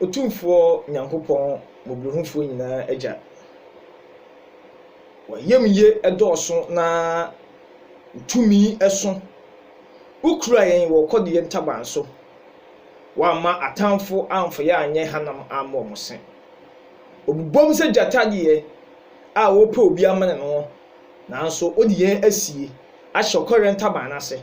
Otumfoɔ Nyankopɔn Mmɔborɔhufoɔ nyinaa Agya. W'ayamye dɔɔso na Wo tumi so. Wokura yɛn wɔ ɔkɔdeɛ ntaban so. Woamma atamfo amfa yɛn anyɛ hanam ammɔ wɔn se. Wɔbobom sɛ gyata deɛ a ɔrepɛ obi amene no, nanso wode yɛn asie ahyɛ ɔkɔdeɛ ntaban no ase.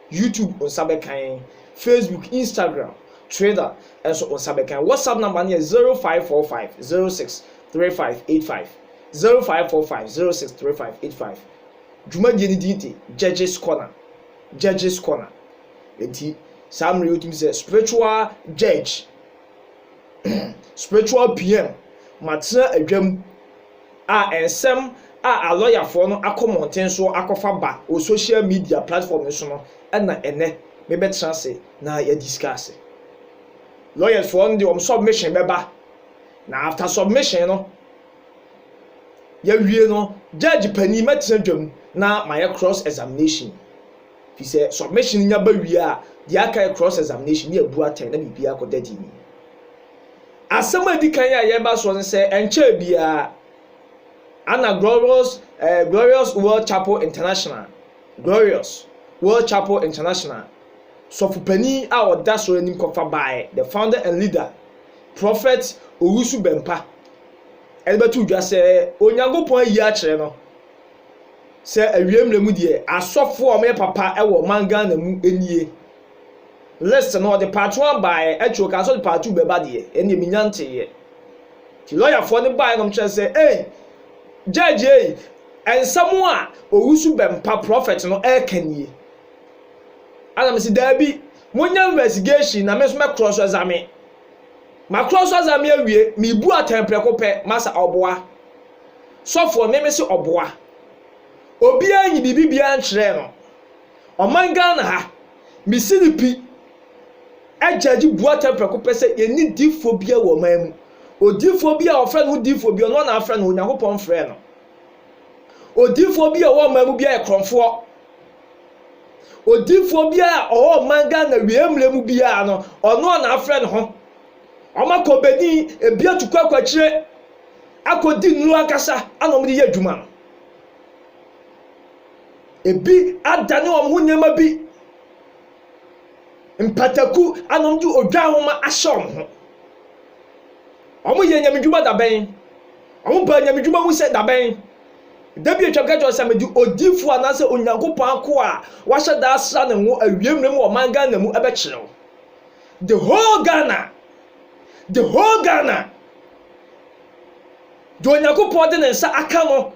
YouTube nsa bɛka yɛn, Facebook, Instagram, Twitter nso wo nsa bɛka yɛn. WhatsApp number no yɛ zero five four five zero six three five eight five zero five four five zero six three five eight five. Dwumadie no din de Judges Corner, Judges Corner. Enti saa mmerɛ yi wotumi sɛ spiritual judge, spiritual PM, matena adwam. a nsɛm a alɔyafoɔ no akɔ mmɔnten soɔ akɔfa ba wɔ social media platform no so no na ɛnnɛ me bɛtena ase na yɛ discusse. Lawyers foɔ no deɛ wɔn submission bɛba na after submission no yɛwie no judge panin mɛtena dwam na mayɛ cross examination fi sɛ submission nya ba wie a deɛ aka yɛ cross examination ne yɛbu atɛn na biribiara kɔda din. Asɛm a edi kan a yɛba soɔ ne sɛ, ɛnkyɛɛ biara na Glorious, eh, Glorious World Chapel International, Glorious World Chapel International sɔfo panin a ɔda soro anim kɔfa baeɛ, the founder and leader, Prophet Owusu Bɛmpa, ɛde bɛto dwa sɛ Onyankopɔn ayi akyerɛ no sɛ awiei mmerɛ mu deɛ asɔfoɔ a wɔyɛ papa wɔ ɔman Ghana mu nie. list no ɔde part one baeɛ akyire ɔkaa sɛ ɔde part two bɛba deɛ ɛnneɛ menya nteeɛ nti lɔyafoɔ no baeɛ nom kyerɛ sɛ ei judge ei ɛnsɛm a owusu bɛmpa prɔfɛt no ɛreka nie ana me sɛ daabi monya investigation na me nso mɛ cross examine ma cross examine awie mebu atɛn prɛko pɛ ma sɛ ɔboa sɔfoɔ me me se ɔboa obiara nyi biribi biara nkyerɛ no Ɔman Ghana ha, me se no pi judge Boateng prɛko pɛ sɛ yɛnni difoɔ biara wɔ ɔman mu. Odifoɔ biara a ɔfrɛ ne ho difoɔ biara no, ɔno na afrɛ ne ho, Nyankopɔn mfrɛɛ no. Odifoɔ biara a ɔwɔ ɔman mu biara yɛ korɔmfoɔ. Odifoɔ biara a ɔwɔ ɔman Ghana wie mmerɛ mu biara no, ɔno na afrɛ ne ho. Ɔmakɔ Benin, ebi atukɔ akɔ akyire, akɔdi nnuro ankasa ana ɔmde yɛ adwuma no. Ebi adane wɔn ho nneɛma bi mpataku ana wɔde odwa nhoma ahyɛ wɔn ho. Wɔyɛ nyamedwuma dabɛn. Wɔbaa nyamedwuma mu sɛ dabɛn. Da bi atwam ka kyerɛ sɛ mede odifo anaasɛ Onyankopɔn akoa a wahyɛ da asra ne ngo awie mmerɛ mu wɔ ɔman Ghana mu bɛkyerɛ wo. The whole Ghana. The whole Ghana. Deɛ Onyankopɔn de ne nsa aka no.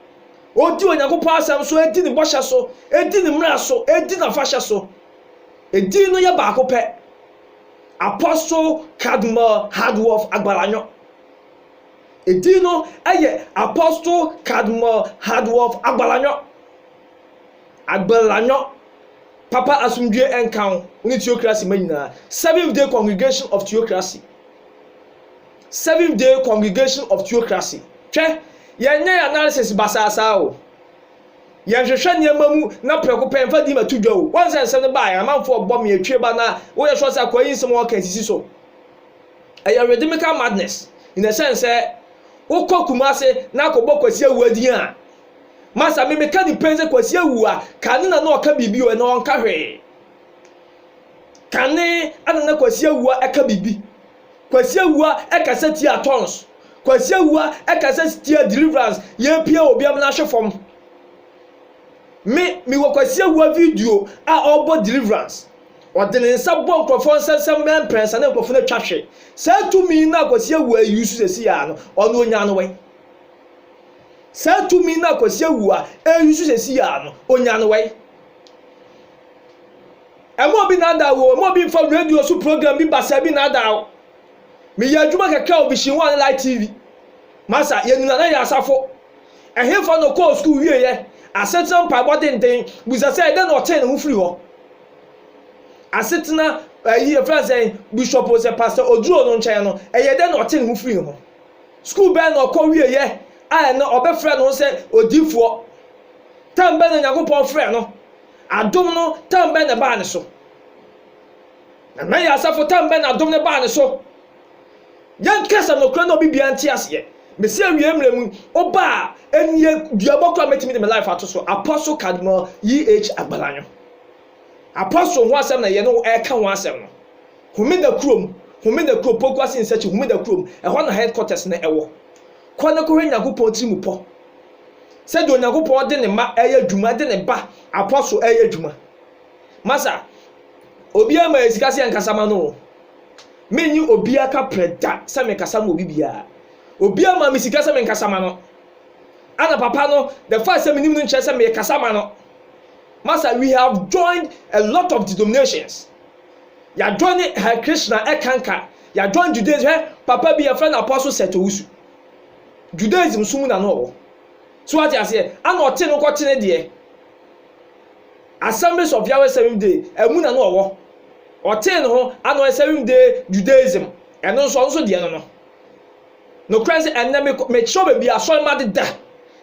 Odi Onyankopɔn asɛm so, di ne bɔhyɛ so, di ne mmara so, di n'afahyɛ so. Edin no yɛ baako pɛ, Apostle Cardinal Hardwolf Agbalanyo. Edin no yɛ Apostle Cardinal Hardwolf Agbalanyo. Agbalanyo, Papa asomdwoe nka wo ne Teokrase mma nyinaa, Seventh Day Congregation of Teokrase. Seventh Day Congregation of Theocracy. Hwɛ, yɛnyɛ yɛn analysis basaa saa o. Yɛnhwehwɛ nneɛma mu na prɛko pɛ yɛmfa di ma to dwa o. Woahu sɛ nsɛm no baeɛ, amanfoɔ bɔ me atwie ba na woyɛ sure sɛ akwaa yi nsɛm a wɔka yi sisi so. Ɛyɛ rhythmical madness in the sense sɛ wokɔ Kumase na akɔbɔ Kwasi Awuah din a, masa me meka ne pɛn sɛ Kwasi Awuah, kane na na ɔka biribi o, ɛnnɛ ɔnka hwee. Kane na na Kwasi Awuah ka biribi. Kwasi Awua kasa tia Tonz. Kwasi Awua kasa tia Deliverance yɛpie obiam no ahwe fam. Me mewɔ Kwasi Awua video a ɔbɔ Deliverance. Ɔde ne nsa bɔ nkurɔfoɔ nsɛnsɛm bɛyɛ mprɛnsa na nkurɔfoɔ no atwa hwe. Saa tumi no a Kwasi Awua yi use sɛsi a no ɔno ɔnya no wɛn? Saa tumi no a Kwasi Awua ɛyusu sɛsi a no ɔnya no wɛn? Mma obi nnaadaa wo o, mma obi mmfa radio so program bi basaa bi nnaadaa wo. Meyɛɛ adwuma kakra wɔ Vision One ne Light TV. Masa, yɛn nyinaa na yɛyɛ asafo. Ɛhefa na ɔkɔɔ sukuu wieeɛ? Asetena mpaebɔ denden. Bisa sɛ, dɛn na ɔtee ne ho firi hɔ? Asetena, ayi, yɛfrɛ no sɛn, Bishop o sɛ Pastor Oduro no nkyɛn no, ɛyɛɛ dɛn na ɔtee ne ho firii ho? Sukuu bɛn na ɔkɔ wieeɛ a ɛnnɛ ɔbɛfrɛ ne ho sɛ odiyifoɔ? Tam bɛn na Onyankopɔn frɛɛ no? Adom no tam bɛn na ɛbaa ne so? Nana Ayew Asafo tam bɛn na adom no baa ne so? Yɛnka sɛ nokorɛ na obi biara nte aseɛ. Mesi awiei mmerɛ mu, woba a, ɛnnie duabɔ koraa mɛtumi de me life ato so. Apostle Cardinal YH. Agbalanyo. Apostle ho asɛm na yɛne wo ɛreka ho asɛm no. Homeda kurom, Homeda kurom, Pokuase Nsakyi Homeda kurom, ɛhɔ na headquarters no ɛwɔ. Kɔ ne kɔhwɛ Nyankopɔn tirimupɔ. sɛdeɛ Onyankopɔn de ne mma ɛyɛ adwuma, de ne ba apɔso ɛyɛ adwuma. Masa, obiara ma yɛ sika sɛ yɛnkasa ma no o. Menyi obiara ka prɛ da sɛ mekasa ma obi biara. Obiara ma me sika sɛ menkasa ma no. Ana papa no, the fact sɛ menim no nkyerɛ sɛ mekasa ma no. Masa, we have joined a lot of denominations. Yɛajoine Hare Krishna ɛkanka, yɛajoine Judaism, hwɛ papa bi yɛfrɛ no Apostle Seth Owusu. Judaism so mu na na ɔwɔ. So wate aseɛ? Ana ɔte no kɔkyene deɛ. Assemblies of Yahweh Seventh Day, ɛmu na na ɔwɔ. Ɔtee ne ho, ana ɔyɛ Seventh Day Judaism. Ɛno nso, ɔno nso deɛ no no. Nokorɛ sɛ ɛnnɛ mekɔ, mekyerɛw baabi a asɔre mma deda,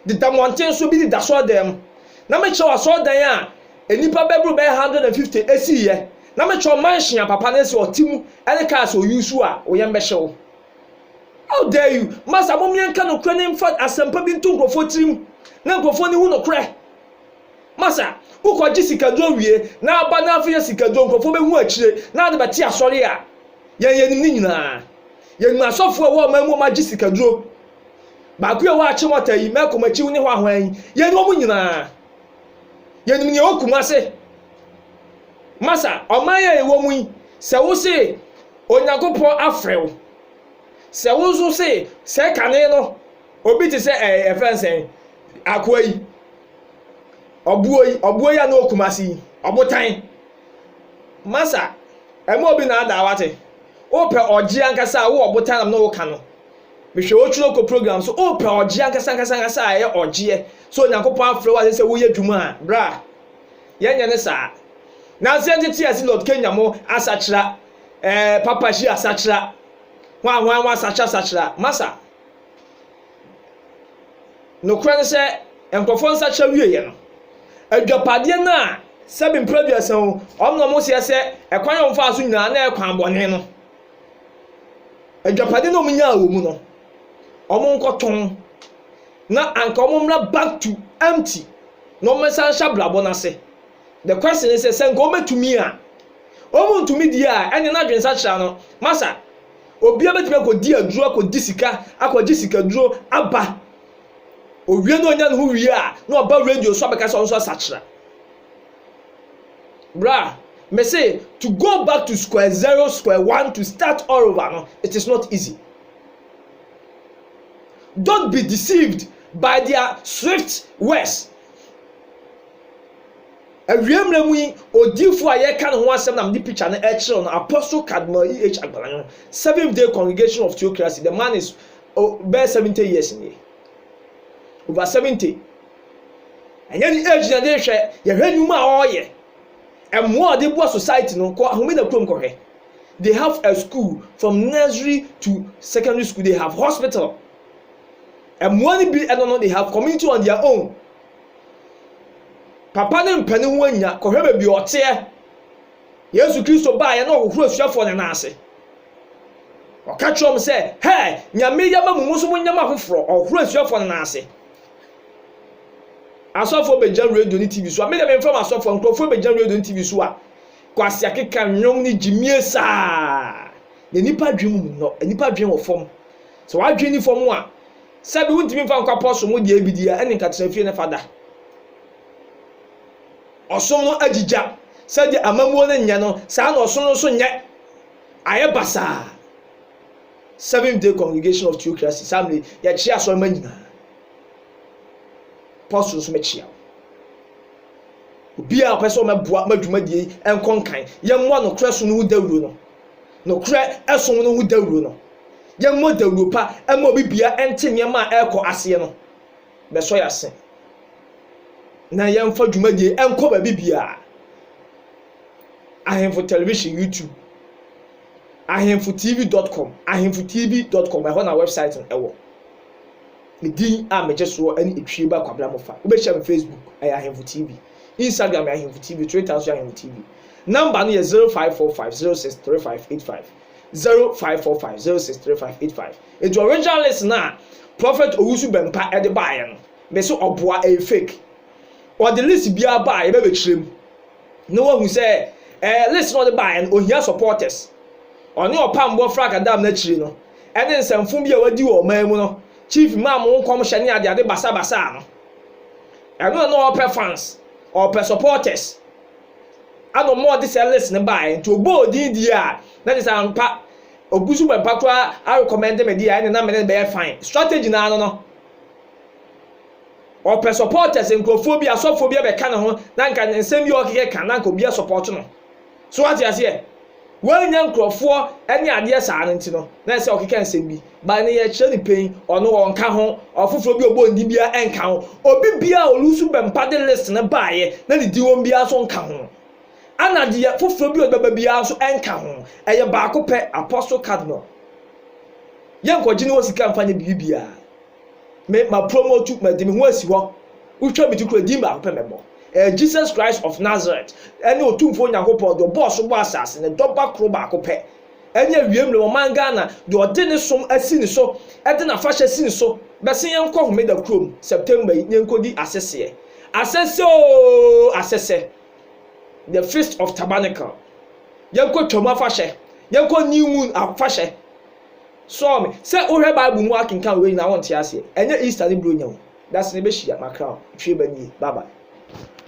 deda mmɔnten so, bi deda asɔredan mu. Na mekyerɛw asɔredan a nnipa bɛboro bɛyɛ 150 ɛsiiɛ. Na mekyerɛw mansion a papa no, ɛsɛ ɔte mu, ɛne cars a ɔuse a, wo yam bɛhye wo. How dare you! Masa mom yɛn ka nokorɛ ne nfa asɛmpa bi nto nkorɔfoɔ tirim na nkorɔfoɔ ne hu nokorɛ. Masa wo kɔ gye sikaduro wie na aba na afei yɛ sikaduro nkorɔfoɔ bɛ hu akyire na ade bɛte asɔre a yɛn yɛ nim ne nyinaa. Yɛ nim asɔfoɔ ɛwɔ ɔman mu ɔmo agye sikaduro. Baako yi a ɔwɔ akyemɔta yi, mɛko makyi wo ne hɔ ahwan yi, yɛ nim ɔmo nyinaa. Yɛ nim nea ɛwɔ kumase. Masa ɔman yi a yɛ wɔ mu yi sɛ wo se Onyankopɔn afrɛ wo sɛ wo nso se sɛ kane no obi te sɛ ɛɛ ɛfɛn sɛ akoa yi ɔboɔ yi ɔboɔ yi a na ɔkuma se yi ɔbotan masa ɛma obi na ada wate wopɛ ɔgye ankasa a wo ɔbotan nam na woka no mehwɛ otwuro kɔ program so wopɛ ɔgye ankasa ankasa ankasa a ɛyɛ ɔgyeɛ sɛ onyankopɔn afrɛ wo asɛ sɛ woyɛ dwuma a bra yɛnyɛ ne saa. Na adze a nkyɛ tse adze Lord Kenya mo asakyera, eh, Papa Xi asakyera, hɔn a hɔn wɔasakyera sakyera, masa. Nokorɛ ne sɛ, nkorɔfoɔ nsakyera wieeɛ no, adwapadeɛ no a sɛbe mpra aduasa o, wɔn na wɔseɛ sɛ ɛkwan a wɔfaa so nyinaa na ɛyɛ kwan bɔne no, adwapadeɛ no a wɔnyaa wɔ mu no, wɔnkɔtɔn na anka wɔmmra back to empty na wɔmmɛsan nhyɛ abrabɔ no ase. The question ne sɛ, sɛ nka wɔbɛtumi a, wɔntumi deɛ a, ɛne no adwensakyera no, masa, obiara bɛtumi akɔdi aduro, akɔgye sika, akɔgye sikaduro aba. Owie na ɔnya ne ho wie a, na ɔba radio so abɛka sɛ ɔno nso asakyera. Bra, me se to go back to square zero, square one to start all over no it is not easy. Don't be deceived by their swift words. Awiei mmerɛ mu yi, odiyifoɔ a yɛreka ne ho asɛm na mede picture no rekyerɛw no, Apostle Cardinal E. H. Agbalanyo, Seventh Day Congregation of Theocracy, the man is bɛyɛ 70 years nie, over 70. Ɛnyɛ ne age na de hwɛ, yɛhwɛ nnwuma a ɔyɛ, ɛmmoa a ɔde boa society no, kɔ Ahomena kurom kɔhwɛ. They have a school from nursery to secondary school, they have hospital. Ɛmmoa no bi ɛno no, they have community on their own. Papa ne mpɛ ne ho annya, kɔhwɛ baabi ɔteɛ. Yesu Kristo baeɛ na ɔhohoro asuafoɔ no nan ase. Ɔka kyerɛ wɔn sɛ, hɛ, Nyame yɛ ma mo mo nso mo nyɛ ma foforɔ, ɔhohoro asuafoɔ no nan ase. Asɔfoɔ bɛgyina radio ne TV so a, me deɛ memfa m'asɔfoɔ, nkurɔfoɔ bɛgyina radio ne TV so a, Kwasi akeka nnwom ne gyimie saa. Na nnipa adwene mu nnɔ, nnipa adwene wɔ fam. Sɛ w'adwene ni fam a, sɛbi wontumi mfa nkɔ apɔso mo deɛ bi deɛ, ɛne nka tena fie ne fa da. Ɔsom no agyigya, sɛdeɛ amammuo no nyɛ no, saa na ɔsom no nso nyɛ. Ayɛ basaa. Seventh Day Congregation of Theocracy, saa mmerɛ yi, yɛkyea asɔremma nyinaa. Apostle nso mɛkyea wo. Obiara a ɔpɛ sɛ ɔmɛboa ma dwumadie yi nkɔ nkan, yɛmmɔ nokorɛ som no ho dawuro no. Nokorɛ som no ho dawuro no. Yɛmmɔ dawuro pa ma obi bia nte nneɛma a ɛrekɔ aseɛ no. Bɛsɔ yɛn ase. Na yɛmfa dwumadie yi nkɔ baabi biara. Ahemfo Television, YouTube, ahemfotv dot com, ahemfotv dot com, ɛhɔ na wɛbsaet no wɔ. Me din a megye soɔ ne Etwieba Kwabena Mofa. Wobɛhyia me Facebook, ɛyɛ Ahemfo TV. Instagram yɛ Ahemfo TV, Twitter nso yɛ Ahemfo TV. Nɔmba no yɛ zero five four five zero six three five eight five, zero five four five zero six three five eight five. Nti original list no a Prophet Owusu Bɛmpa de baeɛ no, mese ɔboa, ɛyɛ fake. Ɔde list biara baa a yɛbɛbɛkyerɛ mu. na wahu sɛ ɛɛ list na ɔde baeɛ no ohia supporters ɔne ɔpammɔ frank adam no akyiri no ɛne nsɛmfo bi a wadi wɔ ɔman mu no chief maa mo nkɔmhyɛ ne ade ade basabasa no ɛno na na ɔpɛ fans ɔpɛ supporters ana ɔmo ɔde sɛ list no baeɛ nti ɔbɔ odin die a na kyɛ sɛ ampa ogu so bɛ mpa koraa arekɔmɛnde me deɛ ɛne na mene bɛyɛ fine strategy na ano no Ɔpɛ supporters, nkurɔfoɔ bi, asɔfoɔ bi bɛka ne ho na nka nsɛm bi a ɔkekɛ ka na nka obi asupporte no. So wate aseɛ? Wannya nkurɔfoɔ ne adeɛ saa no nti no, na ɛsɛ ɔkeka nsɛm bi. But ɛnɛ yɛkyerɛ no pain, ɔno ɔnka ho, ɔfoforɔ bi a ɔbɔ ne din biara ɛnka ho. Obi biara a ɔlusu bɛmpa de list no baeɛ na ne din wɔm biara nso nka ho. Ɛna deɛ foforɔ bi a ɔde bɛba biara nso ɛnka ho. Ɛyɛ baako pɛ, Apostle Cardinal. Yɛnkɔgye ne hɔ sika mfa nyɛ biribi biara. me ma promote madi me ho asi hɔ wotwa me ti kura din baako pɛ mɛbɔ ɛyɛ Jesus Christ of Nazareth ɛne otumfoɔ Nyankopɔn deɛ ɔbɔɔ so bɔ asase ne dɔba koro baako pɛ ɛne awiem ne ɔman Ghana deɛ ɔde ne som asi ne so ɛde n'afahyɛ asi ne so bɛse yɛnkɔ homeda kurom September yi ne yɛnkɔdi asɛseɛ asɛsɛ oo asɛsɛ the feast of tabernacle yɛnkɔ twam afahyɛ yɛnkɔ new moon afahyɛ Sɔɔ me sɛ wohwɛ bible mu akenkan wei nyinaa wonte aseɛ ɛnyɛ Easter ne Buronya o dasene bɛhyia makra o twiaba nie bye bye.